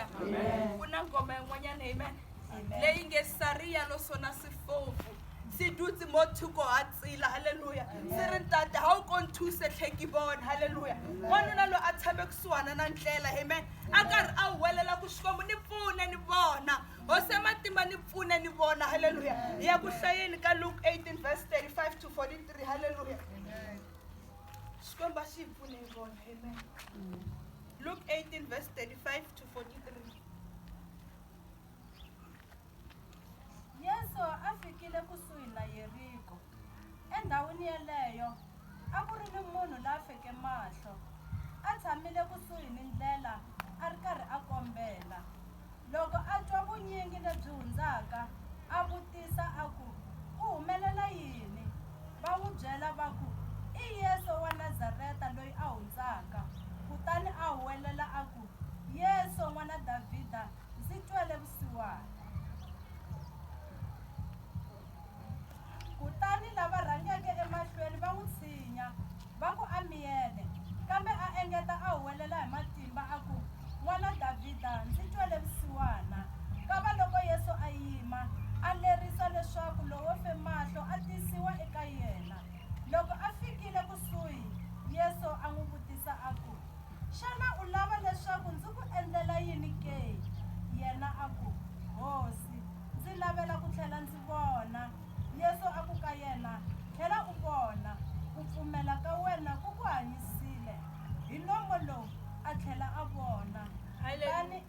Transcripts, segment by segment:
haleluya ku na ngoma yin'wanyana amen leyi nge sariya lo sona sifofu si dutse mo thoko ha tsila haleluya si ri ntate ha u ko nthuse tlheki vona haleluya wanuna loyi a tshame kusuhana na ndlela amen a karhi a huwelela ku xikwembu ni pfune ni vona hosi ya matimba ni pfune ni vona haleluya hi ya ku hlayeni ka luke 18 verse 35 to 43 haleluya xikwembu a xi hi pfune hi vona amen Luke 18 verse 35 to 43. yesu a fikile kusuhi na yeriko endhawini yeleyo a ku ri ni munhu la feke mahlo a tshamile kusuhi ni ndlela a ri karhi a kombela Loko a twa vunyingi lebyi hundzaka, a vutisa a ku, Ku humelela yini? Va n'wi byela va ku, I Yesu wa Nazareta loyi a hundzaka. Kutani a huwelela a ku, Yesu, N'wana Davhida, ndzi twele vusiwana! Kutani lava rhangeke emahlweni va n'wi tshinya, va ku, A miyele! Kambe a engeta a huwelela hi matimba a ku, N'wana Davhida, ndzi twele vusiwana! Kavaloko Yesu a yima, a lerisa leswaku lowo fe mahlo a tisiwa eka yena. Loko a fikile kusuhi, Yesu a n'wi vutisa a ku, Xana u lava leswaku ndzi ku endlela yini ke? Yena a ku, Hosi, Ndzi lavela ku tlhela ndzi vona. Yesu a ku ka yena, Tlhela u vona. Ku pfumela ka wena ku ku hanyisile. Hi nomo lowu a tlhela a vona. Kutani,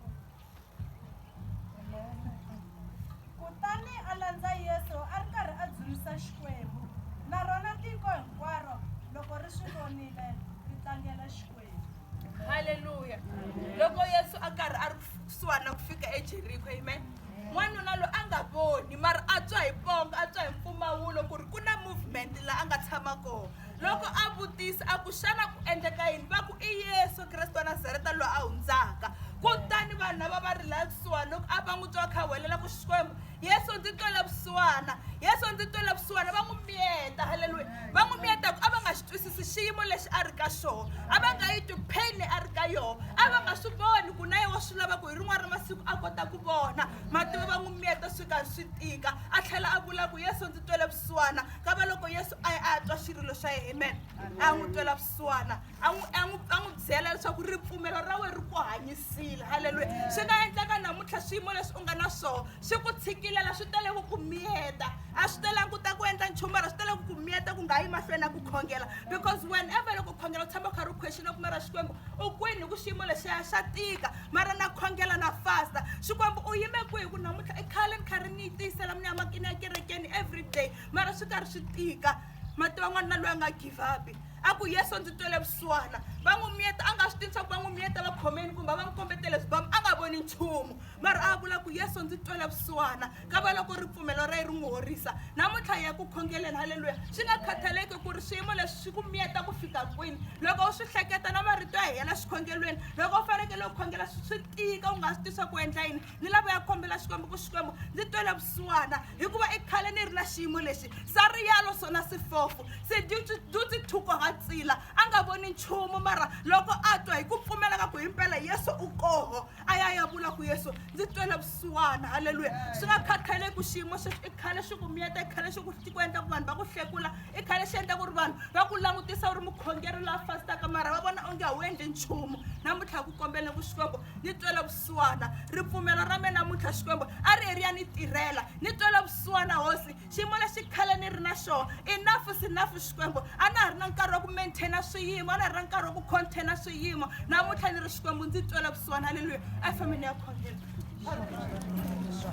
kutani a landza Yesu a ri karhi a dzunisa Xikwembu, na rona tiko hinkwaro loko ri swi vonile, ri tlangela Xikwembu. haleluya loko yesu a karhi a ri kusuhani na ku fika ejeriko amen n'wanuna loyi a nga voni mara a tswa hi ponga a tswa hi mpfumawulo ku ri ku na movement laha a nga tshama kona loko a vutisa a ku xana ku endleka yini va ku i yesu kreste wa nazareta loyi a hundzaka kutani vanhu lava va ri laha kusuhani loko a va n'wi twa kha welela ku xikwembu yesu ndzi twela vusiwana yesu ndzi twela vusiwana va n'wi miyeta halleluya va n'wi miyeta ku a va nga xi twisisi xiyimo lexi a ri ka xona a va nga yi twi pain a ri ka yona a va nga swi voni ku na ye wa swi lava ku hi rin'wana ra masiku a kota ku vona mativa va n'wi miyeta swi karhi swi tika a tlhela a vula ku yesu ndzi twela vusiwana ka va loko yesu a ye a ya twa xirilo xa yena amen a n'wi twela vusiwana a n'wi a n'wi a n'wi byela leswaku ripfumelo ra wena ri ku hanyisile halleluya swi nga endleka namuntlha swiyimo leswi u nga na swona swi ku tshikilela swi tele ku ku miyeta a swi telangi ku ta ku endla nchumu mara swi tele ku ku miyeta ku nga yi mahlweni na ku khongela because whenever loko khongela u tshama u karhi u question ku mara xikwembu u kwini hi ku xiyimo lexiya xa tika mara na khongela na fasta xikwembu u yime kwihi ku namuntlha i khale ni karhi ni yi tiyisela mina makini ya kerekeni every day mara swi karhi swi tika mati van'wana na loyi a nga give up a ku yesu ndzi twele vusiwana va n'wi miyeta a nga swi tivi swa ku va n'wi miyeta va khomeni kumbe a va n'wi kombetele swibamu a nga voni nchumu mara a vula ku yesu ndzi twele vusiwana ka va loko ripfumelo ra ye ri n'wi horisa namuntlha ya ku khongeleni halleluya swi nga khathaleki ku ri swiyimo leswi swi ku miyeta ku fika kwini loko u swi hleketa na marito ya hina xikhongelweni loko u fanekele u khongela swi tika u nga swi tisa ku endla yini ni lavo ya kombela xikwembu ku xikwembu ndzi twele vusiwana hikuva i khale ni ri na xiyimo lexi sa riyalo sona sifofu se dutsi thuko ha tsila a nga voni nchumu mara loko a twa hi ku pfumelaka ku himpela yesu u koho a ya ya vula ku yesu ndzi twele vusiwana halleluya swi nga khathaleki ku xiyimo xexi i khale xi ku miyeta i khale xi ku xi ku endla ku vanhu va ku hlekula i khale xi endla ku ri vanhu va ku langutisa u ri mukhongeri la fastaka mara va vona onge a wu endli nchumu namuntlha hi ku kombele ku xikwembu ni twela vusiwana ripfumelo ra me namuntlha xikwembu a ri heri ya ni tirhela ni twela vusiwana hosi xiyimo lexi khale ni ri na xona inafu sinafu xikwembu a na ha ri na nkarhi wa ku maintaina swiyimo a na ha ri na nkarhi wa ku containa swiyimo namuntlha ni ri xikwembu ndzi twela vusiwana halleluya a yi fambe ni ya khongela